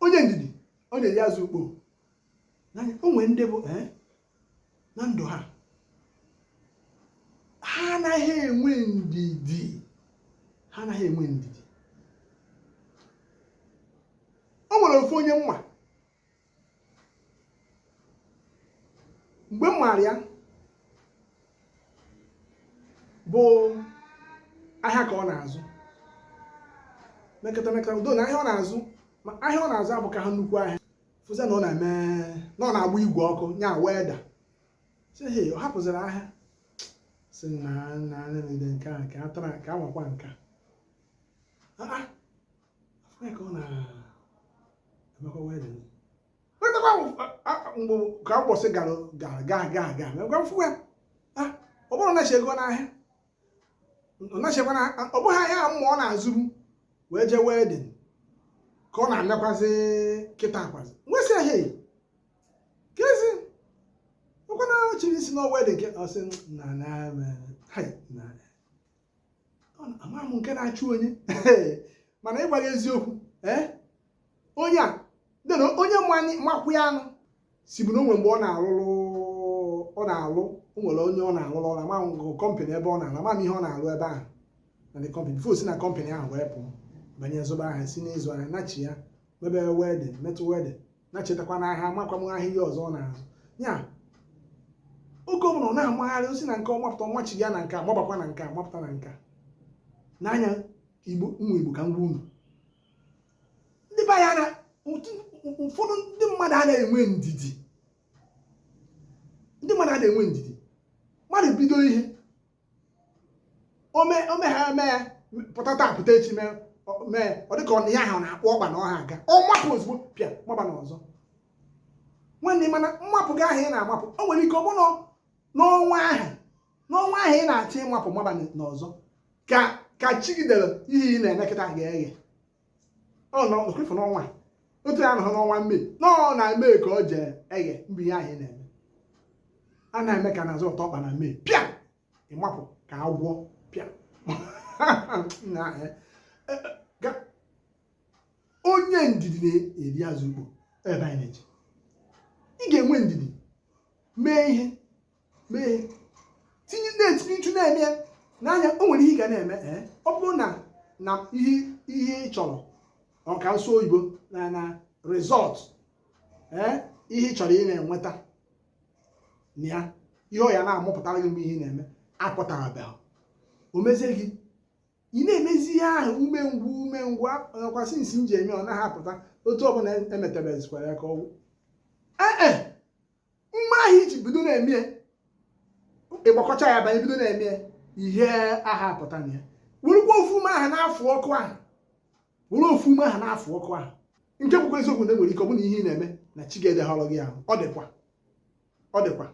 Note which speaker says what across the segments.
Speaker 1: onye ndidi ọ na-eri azụ ukpo o nwere ndị bụ eh, na ndụ ha ha anaghị enwe ndidi ha anaghị enwe ndidi o nwere ofu onye m ma mgbe m maara ya bụ ahịa ka ọ na-azụ mekata mekata udo na ahịa ọ na-azụ ma ahịa ọ na-azụ abụkaha nnukwu ahịa fụzie na ọ na-eme na ọ na-agba igwe ọkụ nya welder si he ọ hapụziri ahịa si na na na nke a ka a tara ka a nwakwa nke a mgbe ka mbọsị gara gara gaa gaa gaa gwa m fụ ya ọ bụrụ na ego n'ahịa nachekwa na ọ bụghị ahịa ahụ ma ọ na-azụ m wee jee welding ka ọ na-anakwazị kịta akwazi nwesị ahịa eyi kezi ọ kwa nachiri isi na welding ke ọ sị na na ama m nke na-achụ onye mana ịgwa gị eziokwu eh? onye a dena onye makwụ ya anụ si bụ na o nwe mgbe ọ na-alụrụ ọ na-alụ o nwere onye ọ na-alụrụ ọrụ ama m company ebe ọ na-alụ ama m ihe ọ na-alụ ebe ahụ na the company before o si na company ahụ wee pụọ banye zụba ahịa si n'ịzụ ahịa nachi ya mebe welding metụ welding na-echetakwa na aha amakwa m ahịa ihe ọzọ ọ na-azụ ya oge ọbụla ọ na-amagharị o si na nke a mapụta ọ machi ya na nke a mabakwa na nke a mapụta na nke a n'anya igbo nwa igbo ka m gwa unu ndị be anyị na ụfọdụ ndị mmadụ a na-enwe ndidi ndị mmadụ a na-enwe ndidi mmadụ bido ihe o mee o mee ihe a eme ya pụta taa pụta echi mee ọ- mee ọ dịka ọ na ya ahụ na-akpụ ọkpa na ọ ha aga ọ mapụ ozugbo pịa maba na ọzọ nwanne mana mmapụ gị ahụ ị na-amapụ o nwere ike ọ bụrụ na n'ọnwa ahụ n'ọnwa ahụ ị na-achọ ịmapụ maba na- n'ọzọ ka ka chi gị dere ihe ị na-eme kịta ga-eghe ọnọkwefu n'ọnwa otu ya nọrọ n'ọnwa mmiri na ọ na-eme ka ọ jee eghe mgbe ihe ahụ na-eme a na-eme ka na-azọtụ ọkpa na mmiri pịa ị mapụ ka agwọ pịa eh, eh, eh, onye ndidi na-eri azụ ukpo ebe anyị na-eje ị ga-enwe ndidi mee ihe mee tinye na-etinye uchu na-eme ya n'anya o nwere ihe ị ga na-eme ee ọ bụrụ na na ihe ihe ị chọrọ ka m sụọ oyibo na na result ee ihe ị chọrọ ị na-enweta na ya ihe ọ ya na-amụpụtara gị mgbe ihe ị na-eme apụtarabeghị o mezie gị ị na-emezi ihe ahụ umengwụ umengwụ nakwa since m ji eme ọ naghị apụta otu ọbụla emetebezikwara ya ka ọ gwụ ee ume ahụ i ji bido na-eme ya ịgbakọcha ya banye bido na-eme ya ihe ahụ apụta na ya werukwa ofu ume ahụ na-afụ ọkụ ahụ were ofu ume ahụ na-afụ ọkụ ahụ nke bụkwa eziokwu na e nwere ike ọ bụ na ihe ị na-eme na chi gị edehọrọ gị ahụ ọ dịkwa ọ dịkwa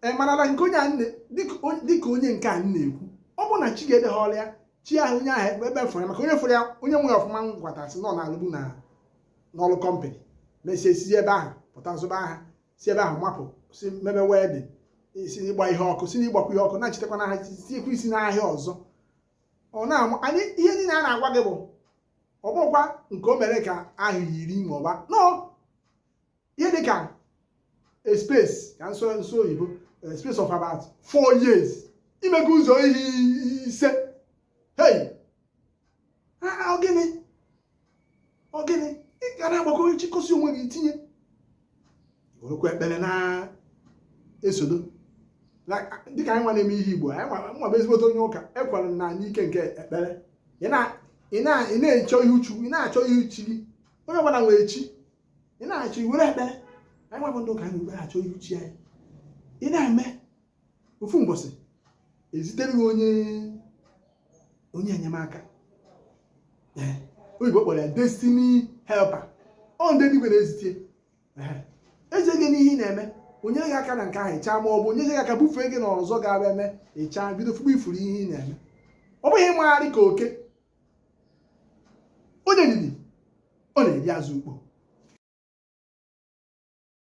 Speaker 1: ị marala nke onye a nne dịka on- dịka onye nke a m na-ekwu ọ bụ na chi ya edehọrọ ya chi ahụ onye ahụ ebe fụrụ ya maka onye fụrụ ya onye nwere ọfụma ngwata sị na ọ na-alụbu na n'ọrụ kọmpanị mesịa si ebe ahụ pụta zụba ahịa si ebe ahụ mapụ si mebe welding si n'ịgba ihe ọkụ si n'ịgbakwa ihe ọkụ na-echetakwa n'aha tinyekwa isi n'ahịa ọzọ ọ na-amụ anyị ihe niile a na-agwa gị bụ ọ bụkwa nke o mere ka ahọ iri ma ọ bụ anọ ihe dị ka a space ka m sụọ n'oyibo a space of about four years i mego ụzọ ihe ise hey ọ gịnị ọ gịnị ị ga na-agbakọ chịkọsi onwe gị tinye werekwa ekpere na-esodo dịka anyị nwa na-eme ihe igbo anyị nwa bụ ezigbote onye ụka ekwere na anyị ike nke ekpere ị na-achọ ihu chukwu ị na-achọ ihu chi gị onye ọbụla nwere chi ị na-achọ i were ekpere anyị nwa bụ ndị ụka anyị were achọ ihu chi anyị ị na-eme ofu mbọsị e zitere gị onye onye enyemaka ee oyibo kpọrọ ya destiny helper ọ ndị eluigwe na-ezite ee ezi gị n'ihe ị na-eme o nye gị aka na nke ahụ ị chaa ma ọ bụ o nye gị aka bufee gị na ọzọ ga-abịa eme ị chaa bido fube ifuru ihe ị na-eme ọ bụghị ịmagharị ka oke onye ndidi ọ na-eri azụ ukpo